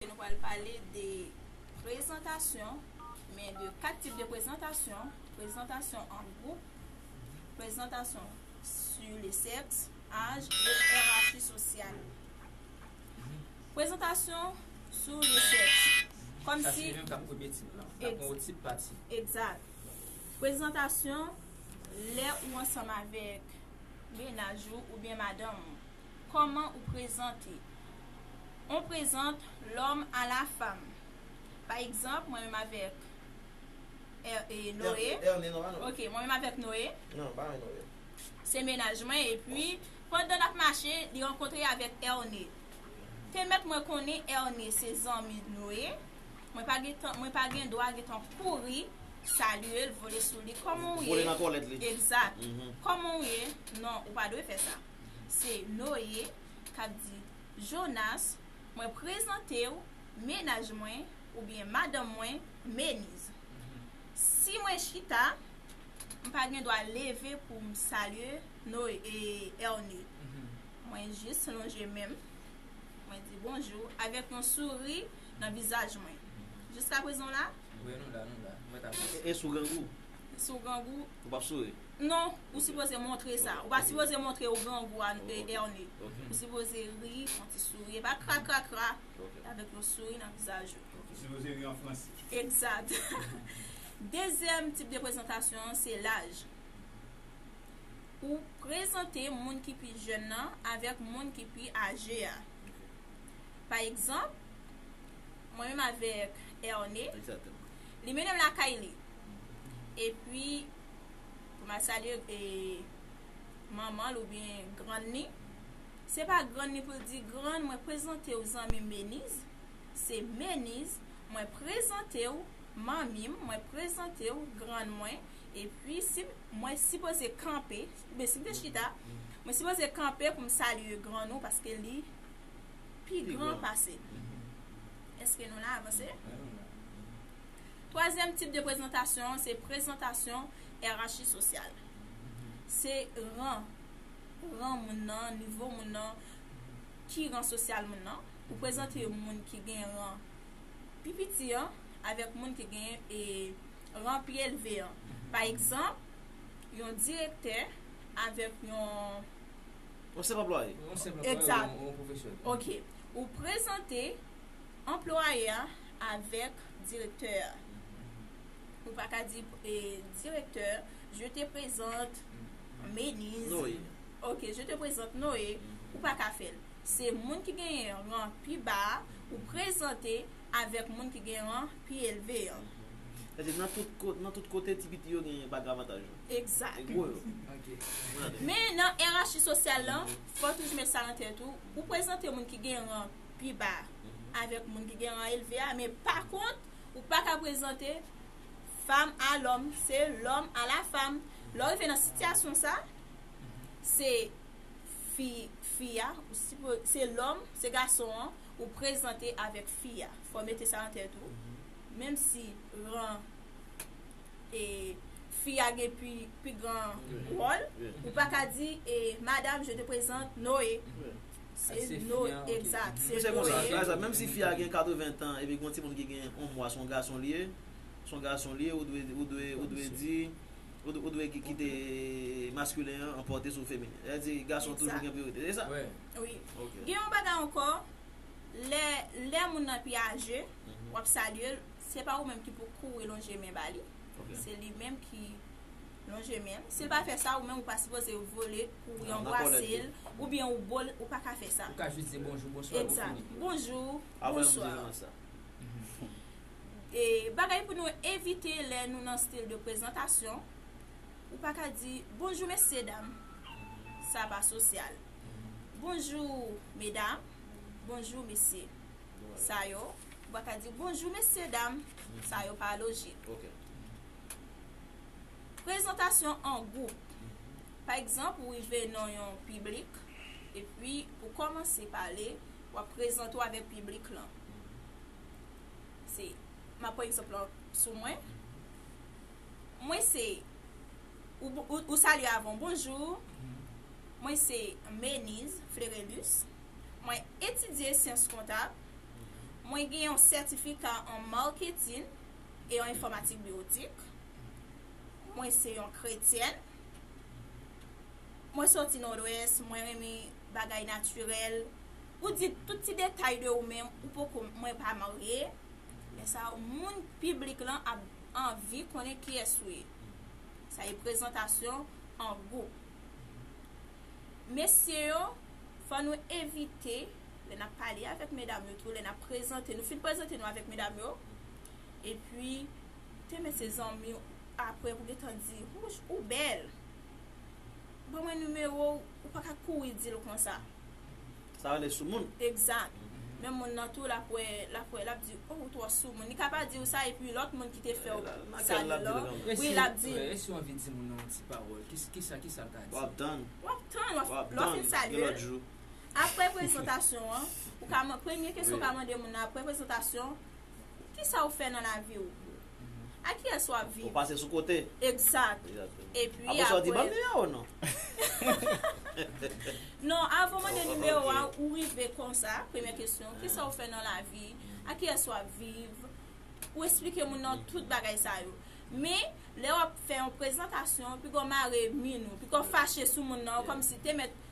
Nou pral pale de prezantasyon, men de 4 tip de prezantasyon, prezantasyon an gwoup, prezantasyon su le sèks, aj, e yerachi sosyal. Prezantasyon su le sèks. Kòm si. Sa se yon ka premye tip la. Ex. Apre yon tip pati. Egzat. Prezantasyon lè ou ansanm avèk menaj ou oubyen madanm ou. Kòman ou prezante On prezant lòm a la fam. Pa egzanp, mwen menm avèk Noe. Ok, mwen menm avèk Noe. Se mennaj mwen epi pandan n ap mache li rankontre avèk Erne. Te mèt mwen konnen Erne se zanmi Noe, mwen pa gen tan, mwen pa gen dwa gen tan kouri salye l, vole sou li. Kòman ou ye? Vole nan tòlèt li. Egzat. Kòman ou ye? Non, ou pa dwe fè sa. Se Noye k ap di, Jonas, mwen prezante ou mennaj mwen, oubyen madanm mwen, Meniz. Si mwen chita, m pa gen dwa leve pou m salye Erne. Mwen jis lonje men m, mwen di bonjou avèk yon souri nan vizaj mwen. Jiskaprezan w la? E si w grangou? Ou p ap souri? Non, ou sipoze montre sa. Ou pa sipoze montre ou grangou a e erne. Ou sipoze ri, fon ti souri. E pa kra kra kra, e avèk yon souri nan vizaj ou. Ou sipoze ri an franse. Egzat. Dezyèm tip de prezantasyon an se laj. Ou prezante moun ki pi jèn nan avèk moun ki pi aje a. Pa egzanp, mwen menm avèk erne. Egzat. Li mennen m lakay li. Epi, pou mal salye e manmanl ou byen grann ni se pa grann ni pou l di grann mwen prezante ou zanmim meniz se meniz mwen prezante ou manmim mwen prezante ou grann mwen e pi si mwen si poze kanpe ou byen si mwen chita mwen si poze kanpe pou m salye grann ou paske li pi gran pase eske nou la avanse Twazyèm tip de prezantasyon an se prezantasyon yerachi sosyal. Se ran, ran moun nan, nivo moun nan, ki ran sosyal moun nan. Ou prezante moun ki gen ran pi piti an avèk moun ki gen e ran pi elve an. Pa egzanp, yon direktè avèk yon. Yon senp anplwaye. Yon senp anplwaye ou byen yon pwofesyonèl. Ok. Ou prezante Anplwaye a avèk direktè a. Ou pa ka di direktè, Je te prezante Meniz. Noye. Ok, Je te prezante Noye. Ou pa ka fè l. Se moun ki genyen ran pi ba a, ou prezante avèk moun ki gen ran pi elve an. Sa vle di, nan tout kote, ti piti yo gen bag avantaj yo. Egzat. E gwo yo. Ok. Men, nan erachi sosyal lan, fò w toujou met sa nan tèt ou, ou prezante moun ki gen ran. pi ba avèk moun ki gen ran elve a men pa kont ou pa ka prezante fam a lòm se lòm a la fam lò rive nan sityasyon sa se fi fi a se lòm se gason an ou prezante avèk fi a fò mete sa nan tèt ou menm si ran e fi a gen pi gran wòl ou pa ka di e madam je te prezante noye Ak se fi an ok. Mwen se konsa sa sa menm si fi a gen 80 tan epi gon timoun ki gen yon mwa son gason li ye son gason li ye ou dwe ou dwe ou dwe di ou dwe kite maskilen an anpòte sou feminin sa vle di gason toujou gen priyorite se sa? Wi gen yon bagay ankò lè lè moun nan pi aje wap salyel se pa ou menm ki pou kouri lonje men ba li se li menm ki Non Jemel, sil pa fè sa ou menm ou pa sipoze vole pou yon bwasel ou byen ou bol ou pa ka fè sa. Ou ka jis di bonjou, bonswa epi fini. Exact. Bonjou, bonswa. Bagay pou nou evite lè nou nan stil de prezantasyon, ou pa ka di bonjou mesye dam. Sa pa sosyal. Bonjou medam, bonjou mesye. Sa yo, ou pa ka di bonjou mesye dam. Sa yo pa lojik. Prezantasyon an gwoup Pa egzanp, ou rive nan yon piblik epi ou kòmanse pale, w ap prezante w avèk piblik lan. Se, m ap pran egzanp lan sou mwen. Mwen se, ou salye avan, Bonjou, mwen se Meniz Flerelus, mwen etidye syans kontab, mwen gen yon sètifika an marketing, e yon enfòmatik biwotik. Mwen se yon kretyèn. Mwen soti Nòdwès, mwen renmen bagay natirèl. Ou di tout ti detay de ou menm, ou poko mwen pa marye. Lè sa yo moun piblik lan ap anvi konnen kiyès ou ye. Sa e prezantasyon an gwoup. Mesye yo, fò nou evite lè n ap pale avèk medam yo tou, lè n ap prezante nou, fin prezante nou avèk medam yo, Epi te met se zanmiw apre pou gentan di wouch ou bèl Ban mwen nimewo w ou paka kouri dil konsa. Sa rele soumoun. Exact Men moun nan tou lap wè lap wè lap di oh ou twò soumoun li ka pa diw sa epi lòt moun ki te fèw sa yo lan wi lap dil. E si w anvi di moun nan yon ti pawòl kisa kisal ka di. Wap tann. Wap tann lò fin salye l. Apre prezantasyon an, ou ka mande, premye kesyon ou ka mande moun nan apre prezantasyon, kisa ou fè nan lavi ou? Ak kiyès ou ap viv? Ou pase sou kote. Egzat. Epi apre. Apre sa ou di banm nimewo ou non. Non, avan ou mande nimewo a, ou rive konsa, premye kesyon, kisa ou fè nan lavi? Ak kiyès ou ap viv? Ou esplike moun nan tout bagay sa yo. Men, lè ou ap fè yon prezantasyon, piko mare min ou, piko fache sou moun nan, kòmsi te mèt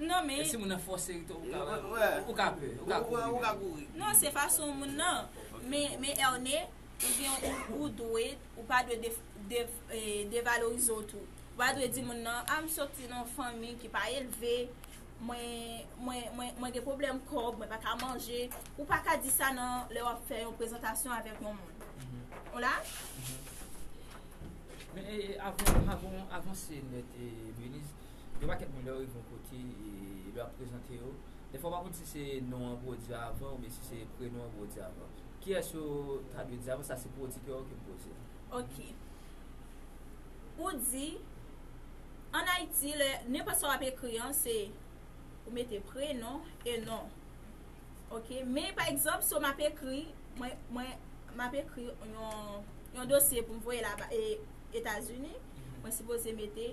Non men. E si moun nan fòse li tou ou ka wè. Ou ka pè. Ou ka kouri. Ou ka kouri. Non se fason moun nan. Men Erne, ou gen ou dwe, ou pa dwe devalorize ou tou. Ou pa dwe di moun nan, a m soti nan yon fanmi ki pa elve, mwen gen pwoblèm kòb, mwen pa ka manje. Ou pa ka di sa nan lè w ap fè yon prezantasyon avèk yon moun. Ou la? Men avanse nèt Beliz. Yon pakèt moun lè yo rive yon kote e lè yo ap prezante yo, dèfwa ou pa konn si se non an pou yo di avan oubyen si se prenon an pou yo di avan. Kiyès yo ta dwe di avan, sa se pwodikè ou ki pou poze l. Ok. Ou di, an Ayiti lè, nenpòt sa w ap ekri an se ou mete prenon e non. Ok. Men pa egzanp so m ap ekri, mwen, mwen, m ap ekri yon, yon dosye pou m voye laba, e Etazini, mwen sipoze mete.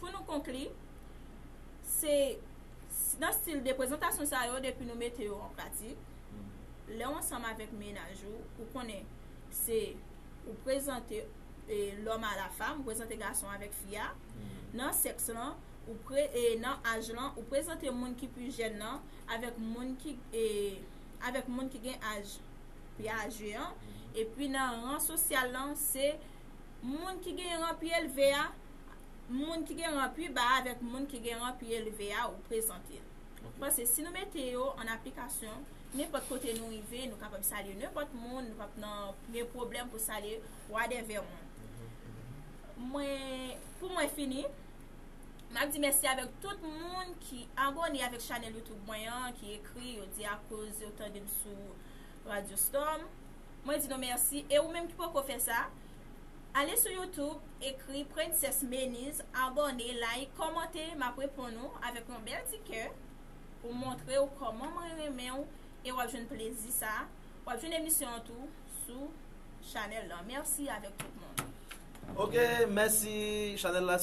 Pou nou konkli, se nan stil de prezantasyon sa yo depi nou mete yo an pratik, lè w ansanm avèk mennaj ou, ou konnen se ou prezante lòm a la fam, ou prezante gason avèk fi a, nan sèks lan, nan aj lan, ou prezante moun ki pi jèn nan avèk moun ki avèk moun ki gen aj pi aje an, epi nan ran sosyal lan se moun ki gen ran pi elve a. moun ki gen ran pi ba avèk moun ki gen ran pi elve a ou prezante. M panse si nou mete yo an aplikasyon, nenpòt kote nou rive, nou kapab salye nenpòt moun, nou pap nan gen pwoblèm pou salye wadèvè moun. Mwen, pou mwen fini, m ap di mèsi avèk tout moun ki abone avèk chanèl YouTube mwen an, ki ekri, yo di akoz yo tande m sou Radio Storm. Mwen di nou mèsi e ou menm ki poko fè sa, Ale sou youtube ekri princess Meniz abòne like kòmante map reponn ou avèk yon bèl ti kè pou montrew kòman mwen renmenw e wap jwenn plezi sa wap jwenn emisyon an tou sou Chanel lan merci avèk tout moun. Ok mèsi chanel la.